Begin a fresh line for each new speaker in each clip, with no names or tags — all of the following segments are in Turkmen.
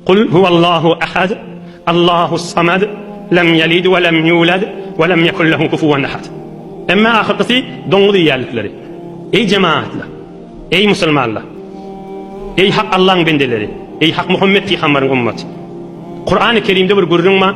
Kul huwallahu ahad, Allahus samad, lem yelid we lem yulad we lem yekun lehu kufuwan ahad. Emma ahyrkysy doňuz iýýänlikleri. Eý jemaatlar! Eý musulmanlar! Eý hak Allaň bendeleri! Eý hak Muhammet pygambaryň ummaty! Kurany Kerimde bir gürrüň bar.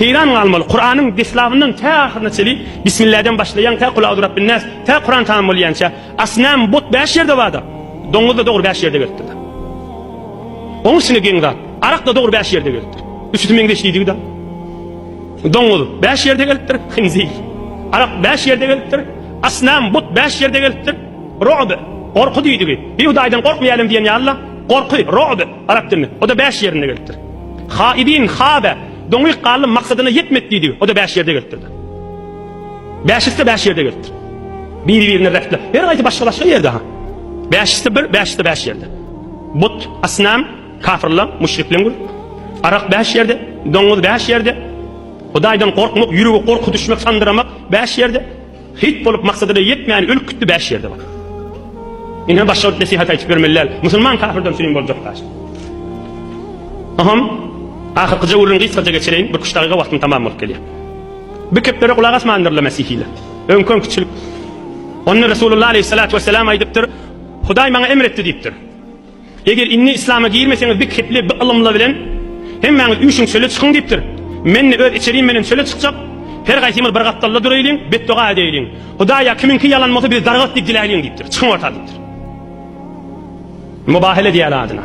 Heýran galmaly, Kuranyň deslabyndan tä ahyryna çenli, Bismilläden başlaýan tä Kul auzu Rabbin nas, tä Kuran tamam bolýança, asnam, but bäş ýerde barda. Doňuz-da dogry bäş ýerde gelipdir. Oň içine geň zat. Arak-da dogry bäş ýerde gelipdir. Üçüsi meňzeş diýdigi-de. Doňuz bäş ýerde gelipdir, hinzir. Arak bäş ýerde gelipdir, asnam, but bäş ýerde gelipdir. Ro'b, gorky diýdigi. Bi Hudaýdan gorkmaýalym diýen ýaly-la, gorky, ro'b, arap dilinde. O-da bäş ýerinde gelipdir. Ha idin ha be. Doňýk gallym maksadyna ýetmek diýdigi. O-da bäş ýerde gelipdir-de. Bäşisi-de bäş ýerde gelipdir. Biri-birine repler. Her gaýsy başga-başga ýerde ha. Bäşisi-de bir, bäşisi-de bäş ýerde. But, asnam, kafyrlar, müşrikler. Arak bäş ýerde, doňuz bäş ýerde. Hudaýdan gorkmak, ýürege gorky düşmek, sandyramak bäş ýerde. Hyt bolup maksadyna ýetmän ölüp gitdi bäş ýerde bar. Ine başga bir nesihat aýtyp ýörmeli däl. Musulman kafirden süýüm boljak daş. Aham ahyrkyja gürrüň gysgaja geçireýin, bir küç dagyga wagtym tamam bolup gelýär. Bir keplere gulak asmandyrlar mesihiler. Öňki öňkiçilik. Onda Resulullah aleyhissalatu vesselam aýdypdyr, Hudaý maňa emr etdi diýipdir. Eger indi islama girmeseňiz bik hepli bi ylymla bilen hemmäňiz üyşiň çöle çykyň diyipdir. Menni öz içerim menen çöle çykjak. Her gaysymyz bir gapdalda duraýlyň, betdoga edeýliň. Hudaý ya kimiňki yalan bolsa biz dargat diyip diläýliň diyipdir. Çykyň orta diyipdir. Mubahele diýeli adyna.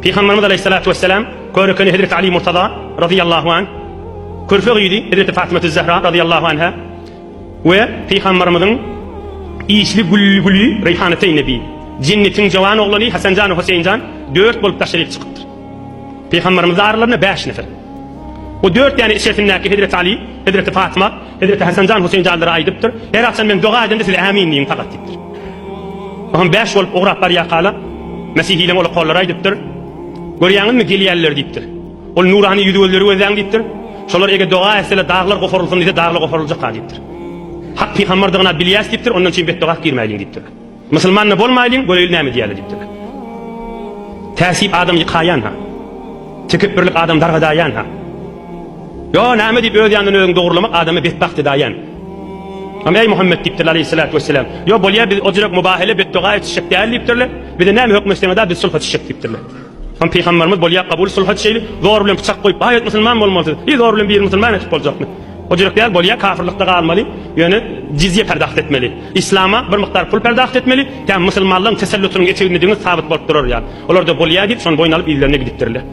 Pygamberimiz aleyhissalatu vesselam körükeni Hezreti Ali Murtaza razyallahu anh körfe gyzy Hezreti Fatyma Tüzzehra razyallahu anha We Pygambarymyzyň işli Gülli-Güli Reýhanateýn Nebi, Jennetiň jowan oglany Hasanjan we Hoseýinjan dört bolup taşryp çykypdyr. Pygambarymyz aralarynda bäş nefer. O dört däne içerisindäki Hezreti Aly, Hezreti Fatyma, Hezreti Hasanjan Hoseýinjanlara aýdypdyr, Her agşam men doga edemde siz Ämin diýiň pagat diýipdir. O hem bäş bolup ugrap barýarkala, Mesihileň ol okolary aýdypdyr, Görýäňizmi gelýärler diýipdir. Ol nurany ýüzi gözleri gözläň diýipdir. Şolar eger doga etseler daglar goparylsyn diýse daglar goparyljak-a diýipdir. Hak pygambardygyny bilýäs diýipdir, ondan üçin betdoga girmäýliň diýipdir. Musulman-da bolmaýlyň, göreýli näme diýýäler diýipdir. Täsip adam ýykaýan-ha. Tekepbirlik adam dargadaýan-ha. Ýo näme diýip öz ýanyndan özüňi dogurlamak adamy betbagt edaýan. Am eý Muhammet diýipdirler aleýhissalatu wesselam. Ýo bolýa biz o jürek mubahala betdoga etişjek däl diýipdirler. Bize näme höküm etseňiz-a biz sulha çyşjak diýipdirler. Hany Pygamberimiz bolýa kabul sulhat şeýli zor bilen pyçak goýup aýat musulman bolmaly siz zor bilen bir musulman etip boljakmy o jürek däl bolýa kafirlikde galmaly ýöne jizýe perdagt etmeli islama bir mukdar pul perdagt etmeli tä musulmanlaryň tesellutynyň eteginde deňiz sabyt bolup durar ýaly olarda bolýa diýip şony boýun alyp yzlerine gidipdirler.